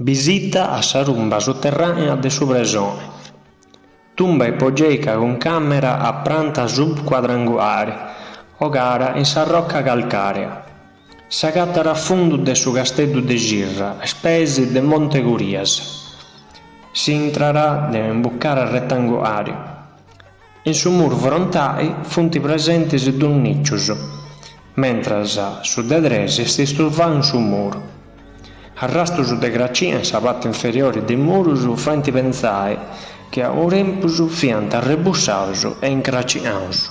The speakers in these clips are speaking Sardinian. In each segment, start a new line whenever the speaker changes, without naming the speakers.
Bisita a sa tumba sotterranea de su presoni, tumba ipogeica cun càmera a pranta subcuadranguare ogada in sa roca calcàrea, s'agatara a fundu de su Casteddu de Cirra a is peis de Monte Curias. Si intrat de un'imbucada retanguari. In su muru frontai funt presentis duus nìcius, mentras su de tres est istuvau in su muru. Arrastus de cracina in sa parti inferiori de murus faint pentzai chi a unu tempus fiant arrebussaus e incracinaus.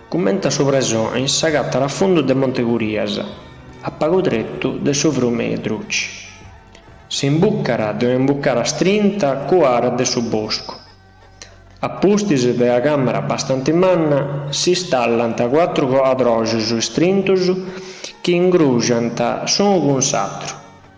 Cummente a su presoni s'agatat a fundu de Monte Curias, a pagu tretu de su Frùmini Druci. S'imbucat de una imbucada strinta cuara de su boscu. A pustis de una càmera bastanti manna si stallant cuatru coadroxus istrintus chi ingruxant s'unu cun s'atru.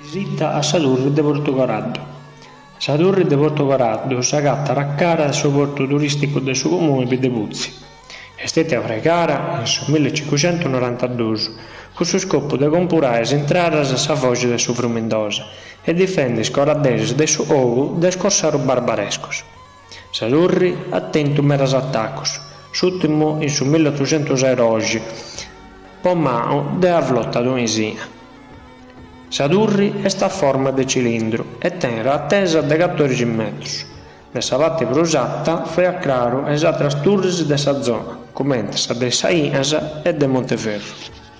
Visita a sa Turri de Portu Coraddu Sa Turri de Portu Coraddu s'agatat a cara de su portu turìsticu de su comunu de Biddeputzi. Est stètia fraigada in su mille e cincucentus norantadus cun su scopu de compurai is intradas a sa foxi de su Frumindosa e difendi is coradderis de su ogu de is corsarus barbarescus. Sa turri at tentu medas atacos, s'ùrtimu in su milli otuxentus e doxi, po manu de una flota tunisina. Sa turri est a forma de cilindru e tenet atesa de catòrixi metrus. De sa parte prus arta faiat craru a is àteras turris de sa zona, cumenti sa de is Sainas e de Monteferru.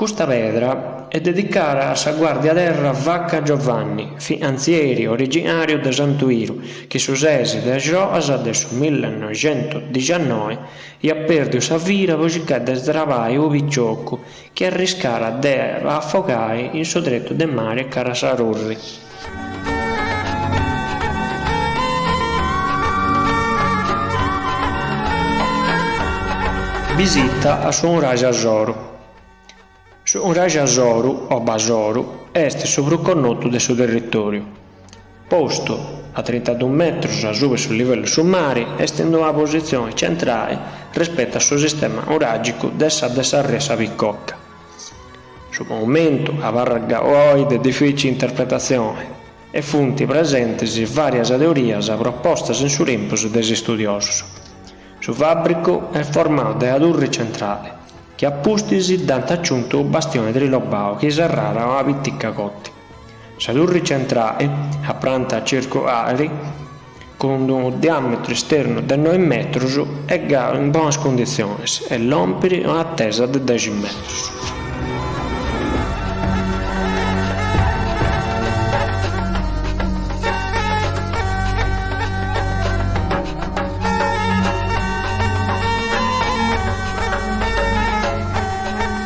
Custa pedra est dedicada a sa guardia terra Vacca Giovanni, finanzieri originàriu de Santu Iru, chi su ses de axoas de su millenoixentodixannoe iat pèrdiu sa vida po circai de srabai unu piciocu chi arriscàt de afogai in su tretu de mare cara a sa turri. Bisita a su Nuraxi Asoru Su Nuraxi Asoru o Basoru est su prus connotu de su territòriu. Postu a trintadus metrus asuba de su livellu de su mare, est in una positzioni centrali respetu a su sistema nuràgicu de sa de s'àrea sa Picocca. Su monumentu abarrat galu oi de difìcili interpretatzioni e funt presentis vàrias teorias propostas in su tempus de is istudiosus. Su fàbricu est formau de una turri centrali, chi a pustis dd'ant aciuntu u' bastioni trilobau chi serràt una pitica cotti. Sa turri centrali, a pranta circulari, cun unu diàmetru esternu de noi metrus, est galu in bonas cunditzionis e lompit un'atesa de dexi metrus.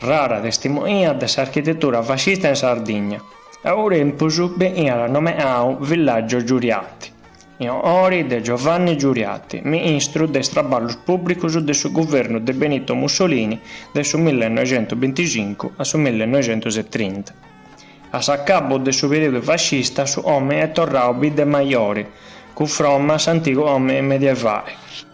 Rara testimonia de s'architetura fascista in Sardigna, a unu tempus beniat nomeau Villaggio Giuriati, in onori de Giovanni Giuriati, ministru de is Traballus Pùbricus de su guvernu de Benito Mussolini de su millenoixentubinticincu a su millenoixentusetrinta. A s'acabu de su perìodu fascista su òmini est torrau Bidda Majori, cunfroma a s'antigu òmini medievali.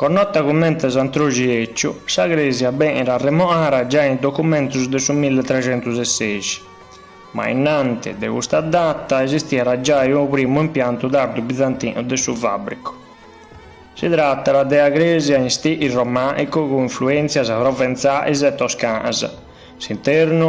Connota cummente Santroxi 'èciu, sa Crèsia benit arremoara giai in documentus de su milli trecentus e sexi, ma innanti de custa data esistiat giai unu primu impiantu tardu bizantinu de su fàbricu. Si tratat de a crèsia in stili romànicu cun influèntzias proventzais e toscanas, s'internu,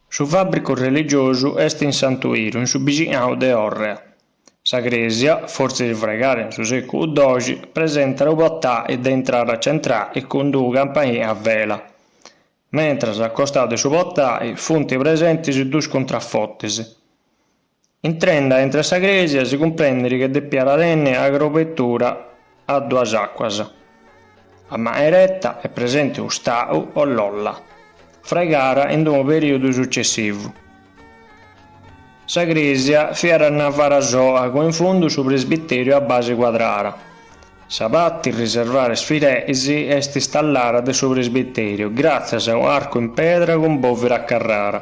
Su fàbricu religiosu est in Santu Iru in su bixinau de Òrrea. Sa crèsia, fortzis fregara in su sèculu doxi, presentat unu potai de intrada centrali cun d'unu campanili a vela, mentras a costau de su potai funt presentis duus cuntrafortis. Intrende intre sa crèsia si cumprendit che depiat tenni 'a crobetura a duas àcuas, a manu 'ereta est presenti unu stau o lolla, fregara in unu perìodu sucessivu. Sa crèsia fiat a navara soa cun in fundu su presbitèriu a base cuadrada. Sa parti riservada a is fideis est istallada de su presbitèriu gràtzias a un'arcu in pedra cun bòvira a carrara.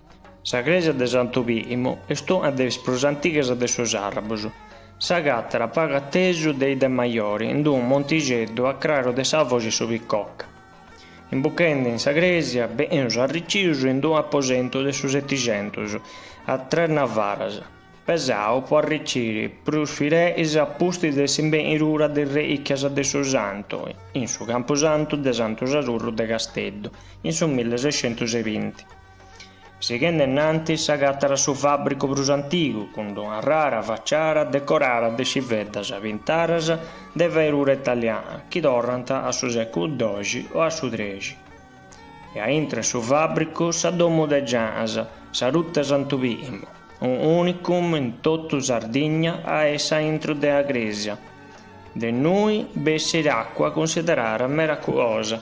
Sa crèsia de Santu Pìlimu est una de is prus antigas de su Sàrrabus. S'agatat pagu atesu de Idda Majori in unu montixeddu a craru de sa foxi su Picocca. Imbuchende in sa crèsia beneus arricius in unu aposentu de su setixentus a tres navaras, pesau po arriciri prus fireis a pustis de s'imbenidura de is relìchias de su Santu in su campusantu de Santu Sadurru de Casteddu in su millesescentusebinti. Sighende innantis s'agatat su fabbricu prus antigu cun d'una rara facciara decorara de sciveddas pintaras de fairura italiana chi torrant a su seculu doxi o a su trexi e a intro 'e su fabbricu sa domu de Gianas, sa Rutta 'e Santu Pimu, un unicum in totu Sardigna a essi a intro de a cresia de innui bessit acua cunsiderara meraculosa.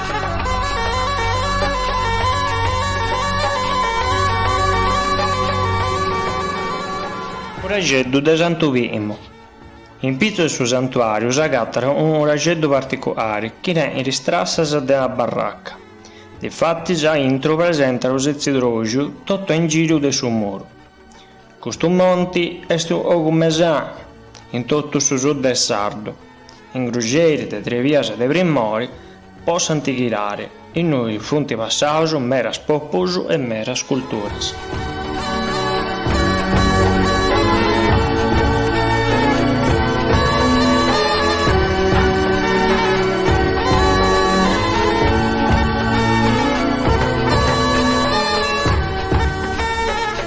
Uraxeddu de Santu Pimu In pitzu 'e su santuàriu s'agatat unu uraxeddu particulari chi tenet is trassas de una barraca. Difatis a intru presentat u' setzidroxiu totu a ingìriu de su muru. Custu monti est logu mesanu in totu su sud de Sardìnnia, ingruxeri de tres bias de primori importàntzia, innui funt passaus meras pòpulus e meras culturas.